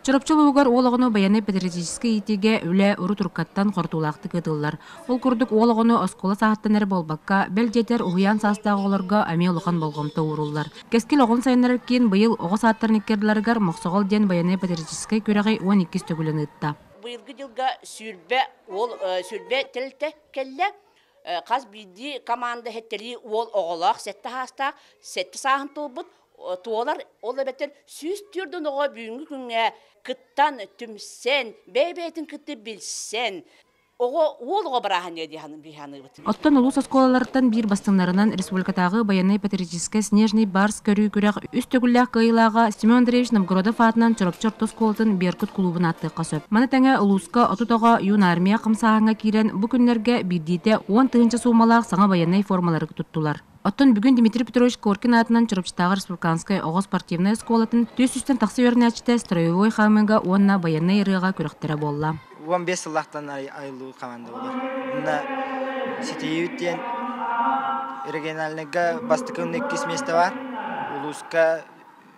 Чурапчы улууһугар уол оҕону байанай патриотическай иитиигэ үлэ урут уруккаттан хортуулаахтык ыытыллар. Ол курдук уол оҕону оскуола сааһыттан эрэ буолбакка, бэл дьиэтэр уһуйаан саастаах оҕолорго эмиэ улахан болҕомто ууруллар. Кэскил оҕону сайыннарар киин быйыл оҕо саадтарын икки ардыларыгар Мохсоҕол диэн байанай патриотическай күрэҕи уон иккис төгүлүн ыытта. Быйылгы дьылга сүүрбэ уол сүүрбэ тэрилтэ кэллэ. Хас биирдии команда хэттэрии уол оҕолоох сэттэ саастаах сэттэ сааһын туолбут туолар ол эбэтэр сүүс түөртүн оҕо бүгүнҥү күҥҥэ кыттан түмсэн бэйэ-бэйэтин кытта билсэн оҕо уол оҕо бырааһынньа дии Оттон улуус оскуолаларыттан биир бастыҥнарынан республикатааҕы байанай патриотическай снежный барс көрүү күрэх үс төгүллээх кыайыылааҕа Семен Андреевич Новгородов аатынан Чурапчы орто оскуолатын Беркут кулуубун ааттыахха сөп. Маны тэҥэ улууска отут оҕо юнармия хамсааһыҥҥа киирэн бу күннэргэ биирдиитэ уон тыһыынча суумалаах саҥа байанай формалары туттулар. Оттон бүгүн Дмитрий Петрович Коркин аатынан Чурапчытааҕы республиканскай оҕо спортивнай оскуолатын түөрт сүүстэн тахса үөрэнээччитэ строевой хаамыыга уонна байыаннай ырыаҕа күрэхтэрэ буолла. Уон биэс сыллаахтан айыллыы команда буолар. Уонна ситиһиибит диэн региональнайга бастакы иккис миэстэ бар. Улууска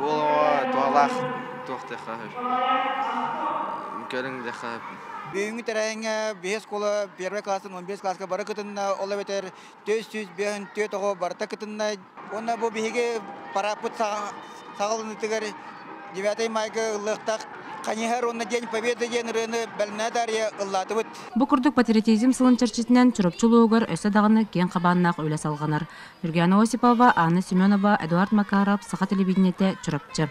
Уол оҕо туһалаах туох диэххэ сөп. Көрүҥ диэххэ сөп. Бүгүҥҥү тэрээҥҥэ биһи оскуола первый класстан он бес класска бары кытынна, ол эбэтэр түөрт сүүс биэһин түөрт оҕо барыта кытынна. Уонна бу биһиги парааппыт саҕаланыытыгар девятый майга ыллыахтаах Каниһар уонна День Победы диэн ырыаны бэлэнэ дарыйа ыллаатыбыт. Бу курдук патриотизм сылын чэрчитинэн Чурапчы улууһугар өссө даҕаны киэҥ хабааннаах үлэ салҕанар. Нургиана Осипова, Анна Семенова, Эдуард Макаров, Саха телевидениетэ, Чурапчы.